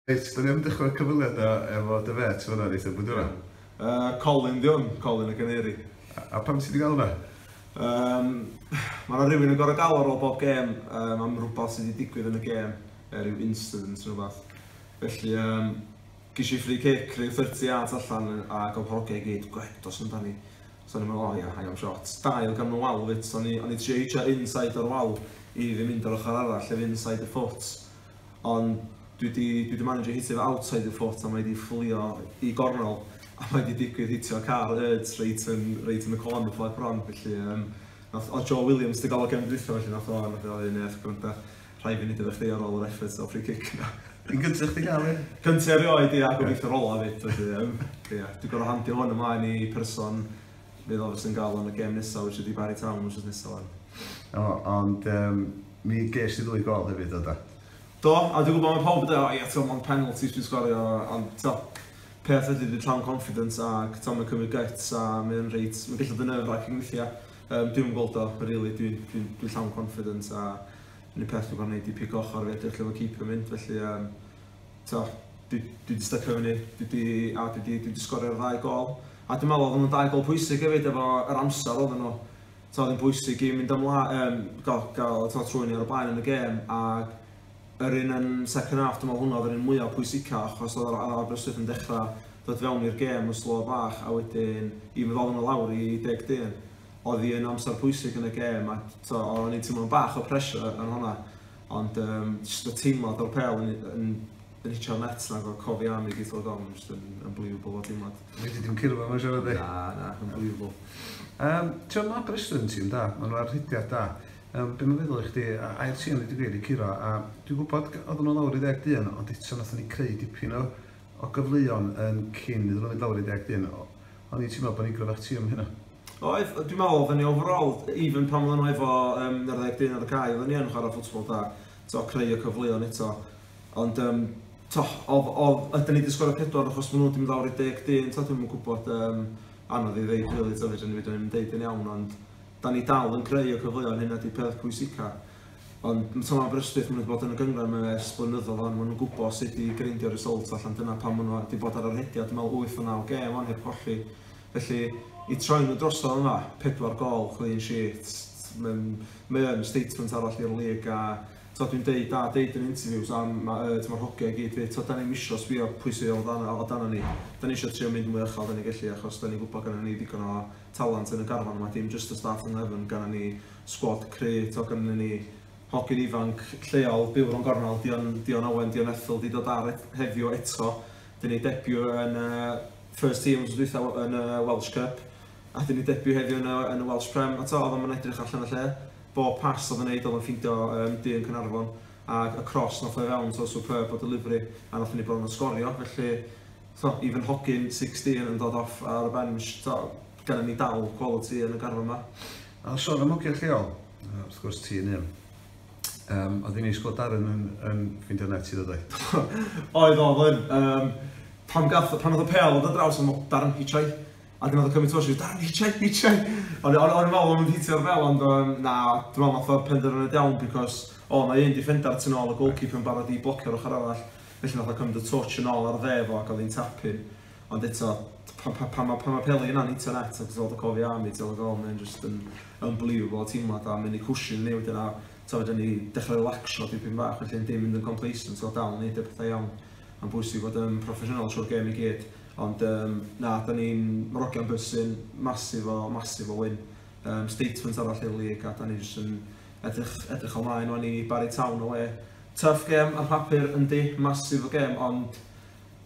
Reit, dan ni am dechrau'r cyfweliadau efo dy fêt fan'na yn eitha blwyddyn yma. Yy, Colin 'di hwn, Colin y Caneri. A pam ti 'di galw hwnna? Yym, ma' 'na rywun yn gor'o' galw ar ôl bob gêm yym am rwbath sy' 'di digwydd yn y gêm, yy ryw incident neu rwbath. Felly yym, gesh i free kick ryw thirty yards allan a gawn pa ogia i gyd, gwed, dos amdani. So o'n i'n me'wl, o ia, hae am shot. Dail gan y wal 'fyd, so o'n i o'n i trio hitio inside o'r wal i fi mynd yr ochor arall, sef inside the foot. ond dwi di, dwi di managio hitio fy outside y foot a mae di fflio i gornel a mae di digwydd hitio car Erds reit yn, reit yn y con yn ffordd bron, felly um, nath, o Joe Williams di gael o gefn dwytho felly nath o, nath o ei nef, gwranda, rhai fi'n nid efo chdi ar ôl yr efforts o free kick na. Yn gyntaf chdi gael un? Gyntaf erioed i a gobeithio rola fyd, felly, um, yeah. Dwi'n gorau handio hwn ymlaen i person Fe ddylai Wrecsam gael o yn y gêm nesaf which ydi Barry Town wythnos nesaf 'wan. O, ond yym mi ges di ddwy gôl hefyd do da? Do, a dwi'n gwybod mae pawb yn dweud, o ia, ti'n ond penalties dwi'n sgorio, ond ti'n peth ydy dwi'n llawn confidence ac ti'n mynd cymryd gets a mae'n reit, mae'n gallu dyn nerve wracking weithiau. Um, dwi'n yn gweld o, really, dwi'n dwi, dwi, dwi llawn confidence a yn y peth dwi'n gwneud i pico ochr fe, dwi'n lle mae keeper mynd, felly um, Dwi wedi stycio fyny, dwi wedi, a dwi wedi, dwi wedi sgorio'r ddau gol. A dwi'n meddwl oedden nhw'n dau gol pwysig hefyd efo yr amser oedden nhw. Twa, oedd yn bwysig i mynd ymlaen, um, gael, gael twa, trwy'n ar y blaen yn y gêm. A yr un yn second half, dwi'n meddwl hwnna oedd yr un mwyaf pwysica, achos oedd yr Aberystwyth yn dechrau dod fewn i'r gêm yn slo bach, a wedyn i fod oedden nhw lawr i deg dyn. Oedd hi'n amser pwysig yn y gêm, a o'n i'n teimlo'n bach o pressure yn hwnna. Ond um, just y teimlad o'r pel yn, yn, yn hitio'r net na gorfod cofi am i gyd o'r dom, just yn unbelievable o teimlad. Wedi dim cyrfa mae'n siarad e? Na, na, unbelievable. Um, Ti'n ma Bristol yn tîm da, maen nhw ar rhidiau da. Um, be mae'n feddwl i chdi, a air tîm wedi gwir i curo, a dwi'n gwybod oedd nhw lawr i ddeg dyn, ond eto nath ni creu dipyn o o gyfleon yn cyn iddyn nhw fynd lawr i 11 o, o'n i'n teimlo bod ni'n gryfach tîm am hynna. Oedd, dwi'n meddwl oedden ni overall, even pan oedden nhw efo um, yr 11 ar y cae, oedden ni yn chwarae ffwtsbol da, to, creu y cyfleon eto. Ond, um, to, oedd, oedd, ydyn ni wedi sgorio pedwar achos maen nhw wedi mynd lawr i 11, to, dwi'n gwybod, um, anodd i ddeud, really, to, fydden ni wedi mynd yn deud yn iawn, ond da ni dal yn creu y cyfleon, hynna di peth pwysica. Ond mae Tom Aberystwyth yn mynd bod yn y gynghrair yma ers blynyddoedd wan, maen nhw'n gwybod sut i greindio'r result allan, dyna pam maen nhw wedi bod ar y rhediad, dwi'n meddwl wyth o naw gêm wan heb golli. Felly, i troi nhw drosodd yma, pedwar gol, clean sheet, mae'n, mae yn statement arall i'r lig a tod, dwi'n deud da, deud yn interviews am mae yd, mae'r hogia i gyd fydd, tod, da ni'n misio sbio pwy sydd o dan, o dan ni, da ni eisiau trio mynd mwy uchel da ni gellu achos da ni'n gwybod gyda ni ddigon o talent yn y garfan yma, dim jyst y staff yng nghefn, gynnon ni sgwad cry', t'o' gynnon ni hogyn ifanc lleol, byw rownd gornel, Dion Dion Owen, Dion Ethel 'di dod ar et- heddiw eto, 'dyn ni debiw yn y first team wthnos dwytha w- yn y Welsh Cup, a 'dyn ni debiw heddiw yn y yn y Welsh Prem, a t'o' o'dd o'm yn edrych allan o lle, bob pass o'dd o'n neud o'dd o'n ffindio yym du yn Caernarfon, ag y cross nath o i fewn, t'o' superb o delivery, a nathon ni bron a sgorio, felly T'mod, even hogyn 16 yn dod off ar y bench, t'mod, gennym ni dal quality yn y garfan 'ma. A sôn am hogiau lleol, yy wrth gwrs ti un un. Yym oedd hi'n neis gweld Darren yn yn ffeindio net ti ddodd oedd? Oedd, oedd, oedd. Yym pan gath- pan oedd y pêl yn dod draws o'n i'n meddwl 'Darren Hichai'. A wedyn oedd y cymaint o shots 'Darren Hichai, Hichai'. O'n i o'n o'n i'n meddwl o'n nhw'n hitio'r bel ond yym na, dwi'n meddwl wnaeth o penderfyniad iawn because o mae un defender tu nôl y goalkeeper yn barod i blocio'r ochr arall. Felly nath o cymryd y twtsh yn ôl ar dde fo ac odd hi'n tapu. Ond eto, pan pan pan ma' pan ma' Peli yna'n hitio'n net a ti gweld y cofiau am hi ti fel oh mae'n jyst yn unbelievable teimlad a mynd i cwshin yn ei wedyn a t'o' fedra ni dechrau relaxio dipyn bach felly ond dim mynd yn complacent t'o' dal neud y pethau iawn. Ma'n bwysig fod yn proffesiynol trwy'r gêm i gyd. Ond yym na 'dan ni'n Moroccan bwsin massive o massive o win. Yym statement arall i'r league a 'dan ni jyst yn edrych edrych ymlaen wan i Barry Town awe Tough gem ar papur yndi, massive o gem ond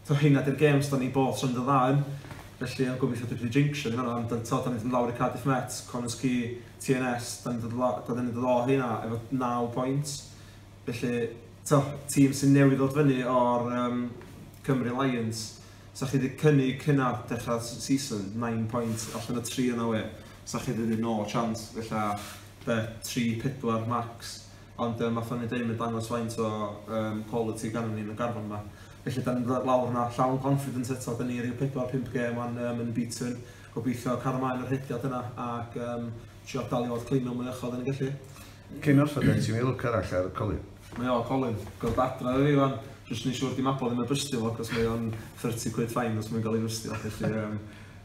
t'o' heina 'di'r gems 'dan ni both yn dda yn felly o'n gobeithio dwi 'di jinxio ni fan'na ond t'o' 'dan ni'n mynd yn lawr i Cardiff Met, Connah's Quay, TNS 'dan ni'n dod la- 'dan ni'n dod o heina efo naw point felly t'o' tîm sy'n newydd ddod fyny o'r yym Cymru Lions 'sa chi 'di cynnig hynna dechra'r s- season? Nine point allan o tri yna wê 'sa chi 'di deud no chance ella be' tri pedwar max Ond yym ma' funny deud mae'n dangos faint o yym quality gannon ni yn y garfan yma. Felly 'dan ni'n mynd lawr yna llawn confident eto, 'dan ni ryw pedwar pump gêm wan yym unbeaten, gobeithio cario mlaen y rhediad yna ac yym trio dal i fod clean o mwy uchod yn y gelli. Cyn noson gen ti lwc arall ar Colin. Mae o, Colin. Gorfod adra iddo fi wan, jyst neu' siŵr 'di Mabon ddim yn bystio fo, 'c'os mae o'n thirty quid fine os mae'n ga'l ei fystio, felly yym